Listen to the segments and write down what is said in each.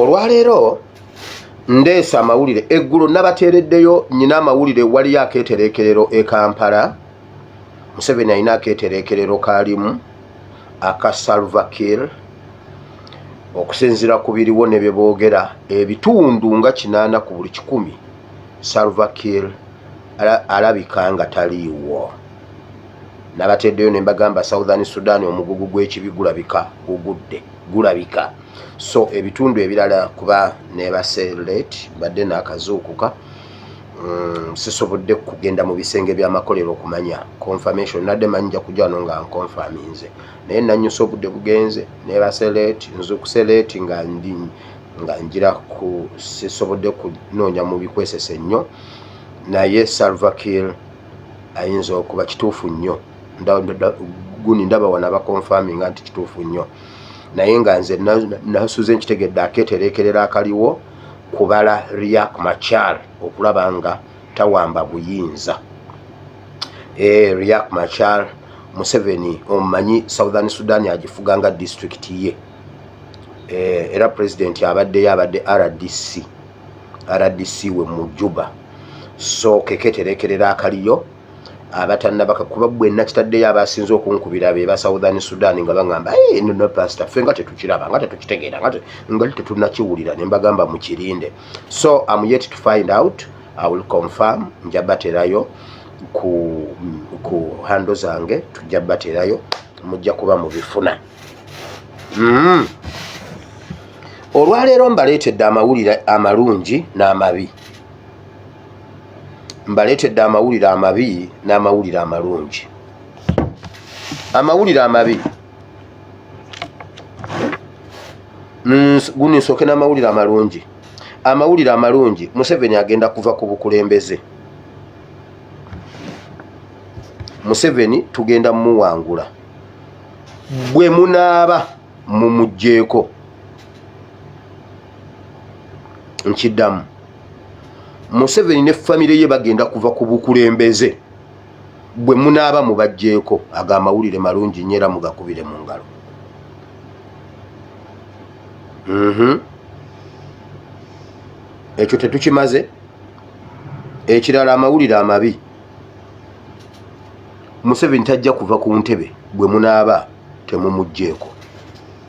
olwaleero ndeese amawulire eggulo nabateereddeyo nyina amawulire waliyo akeetereekerero e kampala museveni alina akeetereekerero kaalimu aka salvakir okusinziira ku biriwo ne bye boogera ebitundu nga kinaana ku buli kikumi salvakir alabika nga taliiwo nabateeddeyo ne mbagamba southern sudan omugugu gw'ekibi gulabika gugudde gulabika so ebitundu ebirala kuba nebase late mbadde nakazuukuka mm, sisobodde kugenda mu bisenge byamakolero okumanya confirmation nadde manyi nja kujano nga nconfaminze naye nanyusa obudde bugenze nebase late nzukuse late nga ndi nga njira ku sisobodde kunoonya mu bikwesese nnyo naye salvakil ayinza okuba kituufu nnyo gundi ndaba wana bakonfaminga nti kituufu nnyo naye nga nze nasuze nkitegedde aketerekerera akaliwo kubala riak machar okulaba nga tawamba buyinza eh, riak machar museveni omumanyi southern sudan agifuga nga disitulikiti ye eh, era pulezidenti abaddeyo abadde rdc rdc we mujuba so keketerekerera akaliyo abatannabaka kuba bwe nakitaddeyo abasinze okunkubira be ba southern sudan nga baŋamba nono pasita ffe nga tetukiraba nga tetukitegeera nga ngali tetunakiwulira ne mbagamba mukirinde so am yet to find out i will confirm nja baterayo ku, ku hando zange tujja baterayo mujja kuba mubifuna mm. olwaleero mbaleetedde amawulire amalungi n'amabi mbaleetedde amawulire amabi n'amawulire amalungi amawulire amabi guno nsooke n'amawulire amalungi amawulire amalungi museveni agenda kuva ku bukulembeze museveni tugenda mumuwangula bwe munaaba mumugjeeko nkiddamu museveni ne famire ye bagenda kuva ku bukulembeze bwe munaaba mubajjeeko ago amawulire malungi nyo era mugakubire mu ngalo mhm. ekyo tetukimaze ekirala amawulire amabi museveni tajja kuva ku ntebe bwe munaaba temumugjeeko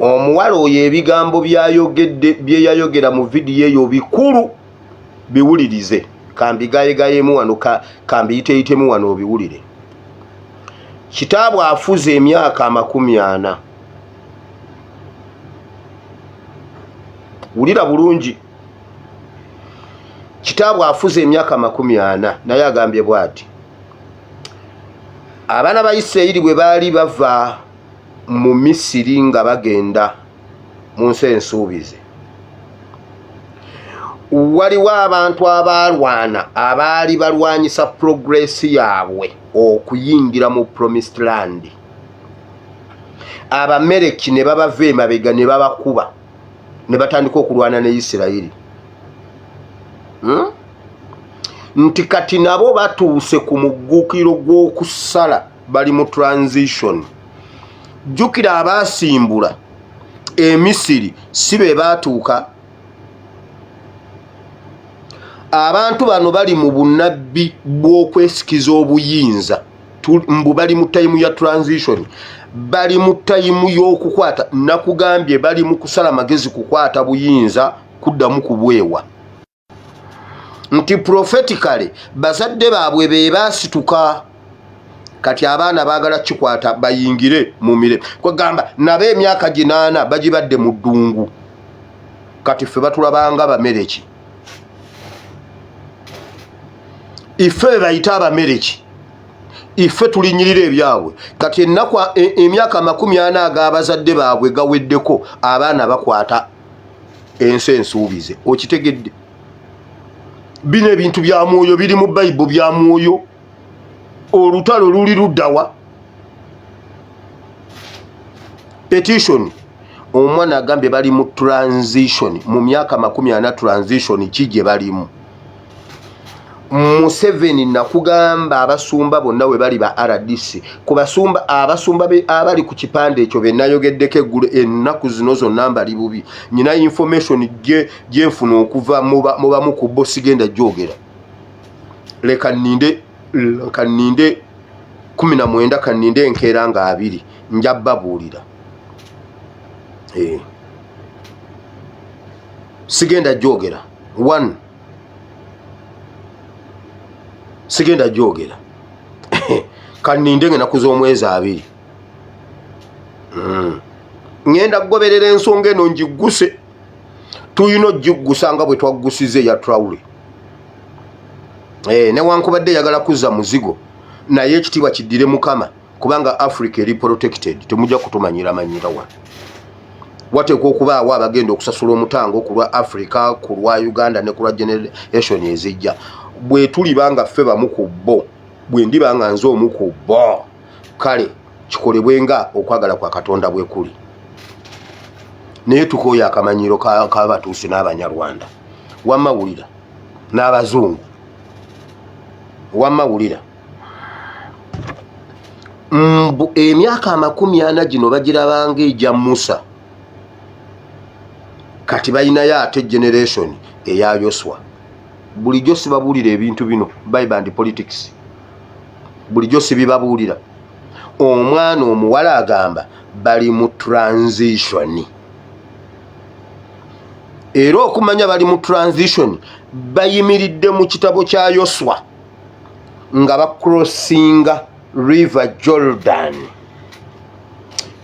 omuwala oyo ebigambo byayogedde byeyayogera mu vidiyo eyo bikulu biwulirize kambigayegayemu wano kambiyiteyitemu wano obiwulire kitaabwe afuze emyaka amakumi ana wulira bulungi kitaabwe afuze emyaka amakumi ana naye agambye bwati abaana ba isirayiri bwe baali bava mu misiri nga bagenda mu nsi ensuubize waliwo abantu abaalwana abaali balwanyisa puroguresi yaabwe okuyingira mu promised land abamereki ne babava emabega ne babakuba ne batandika okulwana ne isirayiri hmm? nti kati nabo batuuse ku muggukiro gw'okusala bali mu transition jjukira abaasimbula emisiri si be baatuuka abantu bano bali mu bunabbi bw'okwesikiza obuyinza mbu bali mu tayimu ya transition bali mu tayimu y'okukwata nakugambye bali mu kusala magezi kukwata buyinza kuddamu kubwewa nti profeticale bazadde baabwe be baasituka kati abaana baagala kikwata bayingire mu mire kwegamba nabo emyaka ginaana bagibadde mu ddungu kati ffe batulabanga bamereki ife bebayita abamereki ife tulinyirira ebyabwe kati enaku e, emyaka amakumi ana agabazadde baabwe gaweddeko abaana bakwata ensi ensuubize okitegedde bino ebintu bya mwoyo biri mu bayibo bya mwoyo olutalo luli luddawa petition omwana agambye bali mu transition mu myaka makumi ana transition ki gye balimu museveni nakugamba abasumba bonna we bali ba rdc ku basumba abasumba abali ku kipande ekyo be nayogeddeko eggulo ennaku zino zonna mbali bubi nyina information gyenfuna okuva mu bamu ku bo sigenda gyogera leka ninde leka ninde kumi na mwenda kaninde enkeera nga abiri nja babuulira eh. sigenda gyogera one sigenda gyogera kaninde nga enaku z'omwezi abiri hmm. ŋenda kugoberera ensonga eno ngigguse tulina okugiggusa nga bwe twaggusiza eya trawule eh, newankubadde yagala kuzza muzigo naye ekitiibwa kiddire mukama kubanga africa eri protected temujja kutumanyira manyira wa wateekwa okubaawo abagenda okusasula omutango ku lwa africa ku lwa uganda ne ku lwa generation ezijja bwe tuliba nga ffe bamu ku bo bwe ndiba nga nze omu ku bo kale kikolebwe nga okwagala kwa katonda bwe kuli naye tukooya akamanyiro kabatuusi n'abanyarwanda wamawulira n'abazungu wamma wulira mbu emyaka amakumi ana gino bagirabanga egya musa kati balinayo ate generation eya yoswa bulijjo sibabuulira ebintu bino biband politics bulijjo sibibabuulira omwana omuwala agamba bali mu transitioni era okumanya bali mu transition bayimiridde mu kitabo kya yoswa nga bacrossinga river jordan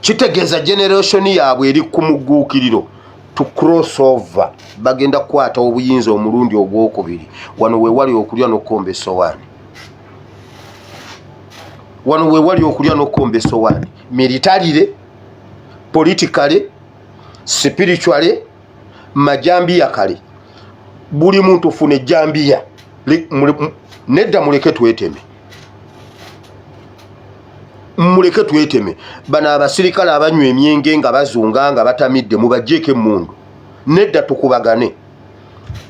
kitegeeza generation yaabwe eri ku mugguukiriro to cross over bagenda kukwata obuyinza omulundi ogwokubiri wano wewali okulya nokukomba esowaani wano wewali okulya nokukomba esowaani militarire politikale spiritually majambiya kale buli muntu funa ejambiya nedda muleke tweteme muleke tweteme bano abasirikale abanywa emyenge nga bazunga nga batamidde mubajjeeko emmundu nedda tukubagane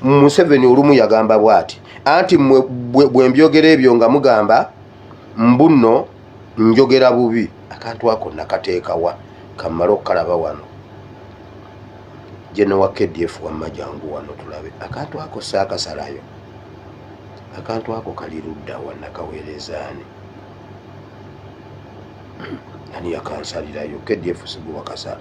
museveni olumu yagamba bwati anti bwembyogera ebyo nga mugamba mbu nno njogera bubi akantu ako nakateekawa kammale okukalaba wano jenowa kdf wamma jangu wano tulabe akantu ako saakasalayo akantu ako kali luddawa nakaweerezaani ani yakansalirayo kdf sigubakasala